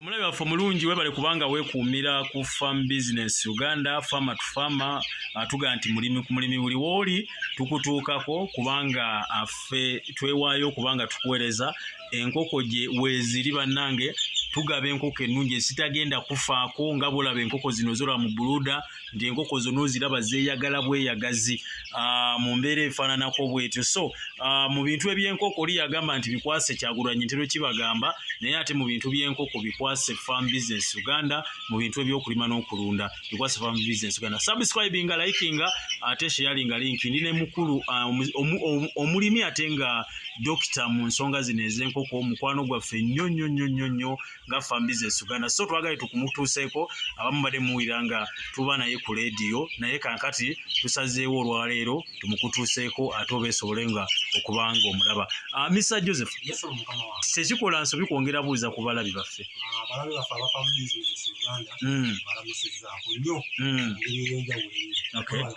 omulabi waffe omulungi webale kubanga wekuumira ku farm business uganda fama to fama atuga nti mulimi ku mulimi buli wooli tukutuukako kubanga affe twewaayo kubanga tukuweereza enkoko gye weeziri bannange tugaba enkoko ennungi ezitagenda kufaako nga bwolaba enkoko zino zolaba mu buluuda ng'enkoko zonna oziraba zeeyagala bweyagazi ah, mu mbeera efaananako bwetyo so ah, mu bintu eby'enkoko oli yagamba nti bikwase kyagulanyi ntero kibagamba naye ate mu bintu by'enkoko bikwase farm business uganda mu bintu eby'okulima n'okulunda bikwase farm business uganda subscribinga likinga ate sheyalinga linki ndi ne mukulu ah, omulimi ate nga dokita mu nsonga zino ez'enkoko mukwano gwaffe nnyo nnyo nnyo nnyo nnyo nga fambi zesuganda so twagale tukumutuuseeko abamu bade muwulira nga tuba naye ku leediyo naye kankati tusazeewo olwaleero tumukutuuseeko ate oba esobole nga okuba nga omulaba ah, misa joseph tekikola nsobi kwongera buuza ku balabi baffe ah,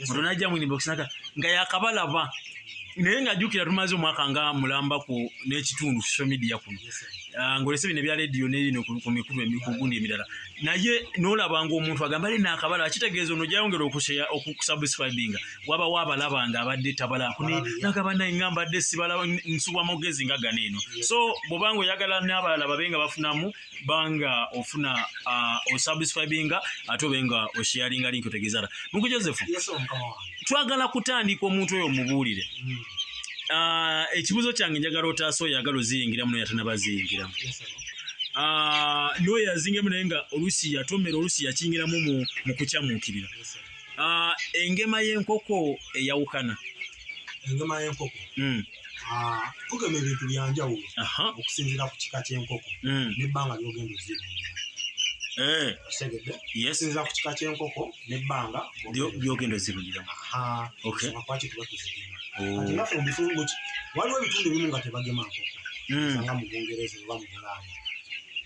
mutono ajja mu inbox naka nga yakabalaba naye nga jukira tumaze omwaka nga mulamba ku n'ekitundu social media kuno ah, ngolese bino ebya radio nebino ku mikulu emikugundi emirala naye nolaba nga omuntu agamba ali nakabala akitegeeza ono jayongera okushare okusubscribinga wabawo abalaba nga abadde tabala kuni nagaba naye nga mbadde sibala nsubwa mugezi nga gano eno so bwobanga oyagala n'abalala babe nga bafunamu banga ofuna uh, osubscribinga ate obe nga osharinga link otegezala mungu joseph yes, twagala kutandika omuntu oyo omubuulire mm. uh, ekibuzo kyange njagala otaasa oyo agala oziyingiramu noyo atanabaziyingiramu yes, uh, noyo yazingiramu naye nga olusi yatomera olusi yakingiramu mu, mu kukyamukirira yes, uh, engema y'enkoko eyawukana enyama y'enkoko hmm. ah, tugema ebintu byanjawulo okusinzira ku kika ky'enkoko hmm. nebbanga lyogenda ozibungira eh. kitegedde okusinzira ku kika ky'enkoko nebbanga byogenda ozibungiramu lwaki tuba tuzigema oh. ati naffe mubitundu waliwo ebitundu ebimu nga tebagema nkoko hmm. nga mu bungereza oba mu bulaaya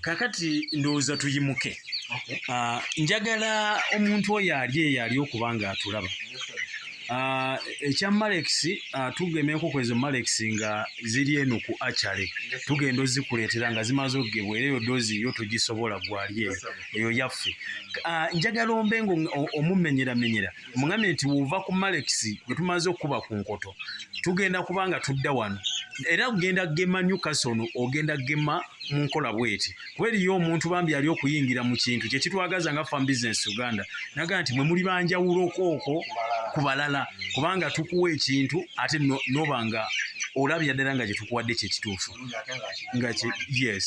kakati ndowooza tuyimuke ah, njagala omuntu oyo ali eyo ali okuba nga atulaba ah, ekya malex ah, tugemeko kwezo malex nga ziri eno ku acale tugenda ozikuleetera nga zimaze okugebwa era eyo dozi yo togisobola gwali eyo eyo yaffe njagala ombe nga omumenyeramenyera yes, mugambye nti wova ku malekisi gwe tumaze okukuba ku nkoto tugenda kuba nga tudda wano era kugenda gema newcastle ono ogenda gema mu nkola bweti kuba eriyo omuntu bambi yali okuyingira mu kintu kyekitwagaza nga fam business uganda nagaa nti mwe muli banjawulokooko ku balala kubanga tukuwa ekintu ate noba nga olabira ddala nga kyetukuwadde kyekituufu nga yes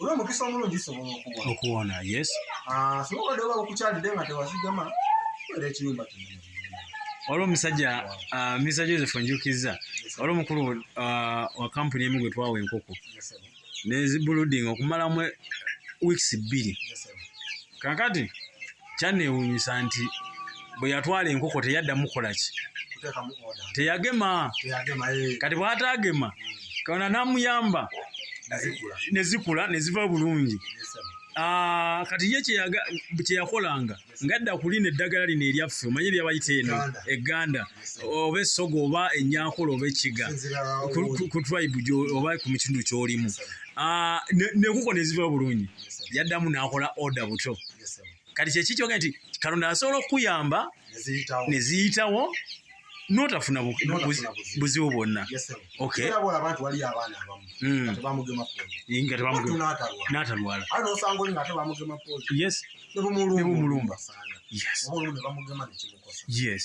olw'omukisa omulungi zisobola okuwona okuwona yes ah, singa obadde oba okukyalidde nga tewazigama era ekiyumba kinene waliwo omusajja ah, misa joseph njukizza waliwo omukulu ah, wa kampuni emu gwe twawa enkoko nezibuludinga okumalamu weeks bbiri kakati kyanewunyisa nti bwe yatwala enkoko teyaddamu kukola ki teyagema eh. kati bwatagema kaona namuyamba nezikula neziva bulungi ah, kati ye kyeyakolanga ngadda kulina eddagala lino eryaffe omanye lyabayita eno eganda oba essoga oba enyakola oba ekiga ku tribe oba ku mukindu kyolimu ah, nekuko neziva bulungi ne, ne yaddamu n'akola oda buto kati kyeki kyoga nti katonda asobola okukuyamba ne ziyitawo notafuna buzibu bwonna nebumulumba yes. yes. yes.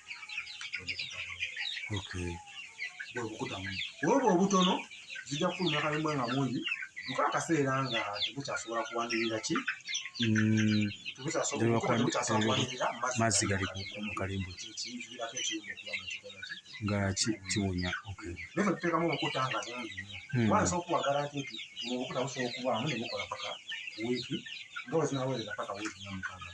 bwebukutamu olwo obutono zijja kufuluma kalimu nga mungi nka akaseera nga tebukyasobola kuwanirira ki mm. mazzi gali mu kalimbo nga kiwunya naye tuteekamu obukuta nga bungi hmm. wansi okuwagala nti obukuta busobola okubaamu ne bukola paka wiiki nga wezinaweza paka wiiki namukaaga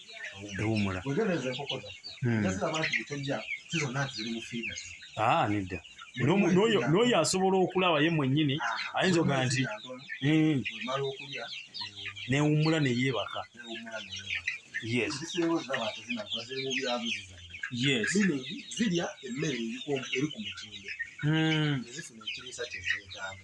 ewumula hmm. ah, nedda n'oyo asobola okulaba ye mwennyini ah, ayinza ogaa nti hmm. newummula neyeebaka yes yes zirya emmere eri ku mutindo hmm. ezifuna ekiriisa kyezeetaaga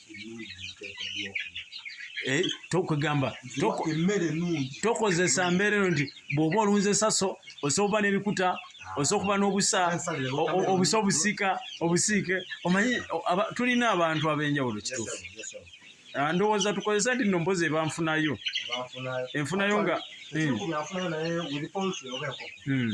Eh, tokwegamba tokozesa mbeera eno nti bw'oba olunze saso osobola okuba n'ebikuta osobola okuba n'obusa obusa obusika obusiike omanyi tulina abantu ab'enjawulo kituufu ah, ndowooza tukozesa nti no mpozi ebanfunayo enfunayo nga hmm. Hmm.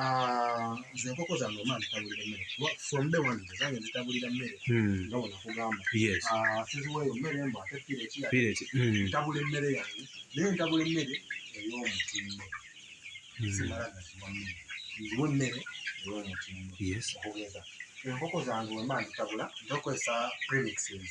Ah, nze enkoko zange omwana zitabulira emmere from the one zange zitabulira mmere hmm. nga wona kugamba ah, siziwayo mmere mbu ate pireti hmm. ntabula emmere yange naye ntabula emmere ey'omutindo hmm. simala gaziwa mmere nziwa emmere ey'omutindo okugeza enkoko zange wemba nzitabula njokozesa premixes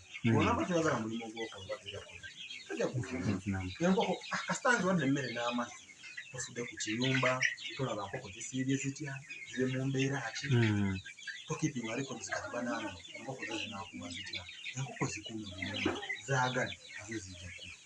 enkoko kasita nziwadde emmere n'amazzi tofudde ku kiyumba tolaba nkoko zisiibye zitya ziri mu mbeera ki hmm. tokipinga ariko zikati banange enkoko zo zinakuwa zitya enkoko zikuuma zaagale nazo zijja kufa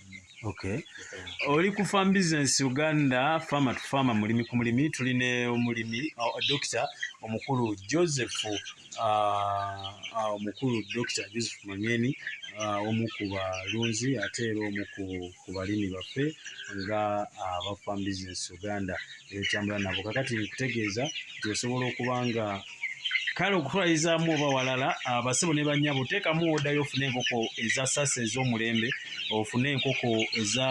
Okay. Oli ku farm business Uganda farmer to farmer mulimi ku mulimi tuli ne omulimi uh, Dr. omukulu Joseph uh, uh, omukulu Dr. Joseph Mangeni uh, omu ku balunzi ate era omu ku balimi baffe nga uh, aba farm business Uganda etambula nabo kakati nkutegeeza nti osobola okuba nga kale okutwalizaamu oba walala abasebo ne banyabo teekamu odayo ofune enkoko eza sasa ez'omulembe ofune enkoko eza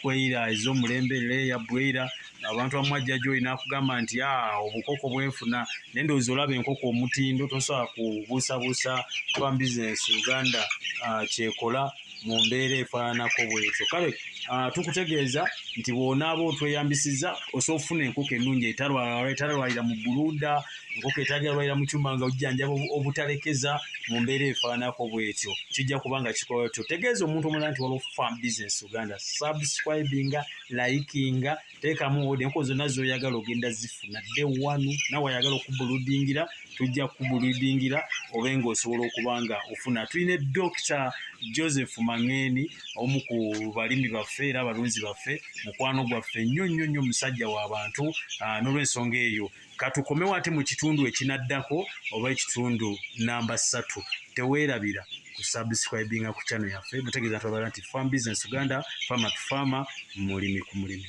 kweira ez'omulembe leeya bweira abantu amu ajja gyoli nakugamba nti a ah, obukoko bwenfuna naye ndowooza olaba enkoko omutindo tosobola kubuusabuusa kuba bizinesi uganda ah, kyekola mu mbeera efaananako bwetyo kale ah, tukutegeeza nti bw'onaaba otweyambisizza osobola okufuna enkoko ennungi etarwalira mu bbuluuda enkoko etagalwalira mu kyuma nga ojjanjaba obutalekeza mu mbeera efaananako bwetyo kijja kuba nga kikola tyo tegeeza omuntu omulala nti waliwo farm business uganda subscribinga likinga teekamu ode enkuba zonna zoyagala ogenda zifuna dde wanu nawe ayagala okubuludingira tujja kubuludingira obe nga osobola okuba nga ofuna tulina dokita joseph mangeni omu ku balimi baffe era abalunzi baffe mukwano gwaffe nnyo nnyo nnyo musajja w'abantu ah, n'olwensonga eyo katukomewo ate mu kitundu ekinaddako oba ekitundu namba ssatu teweerabira kusubscribinga ku channel yaffe mutegeeza twabala nti farm business uganda farmer to farmer mulimi ku mulimi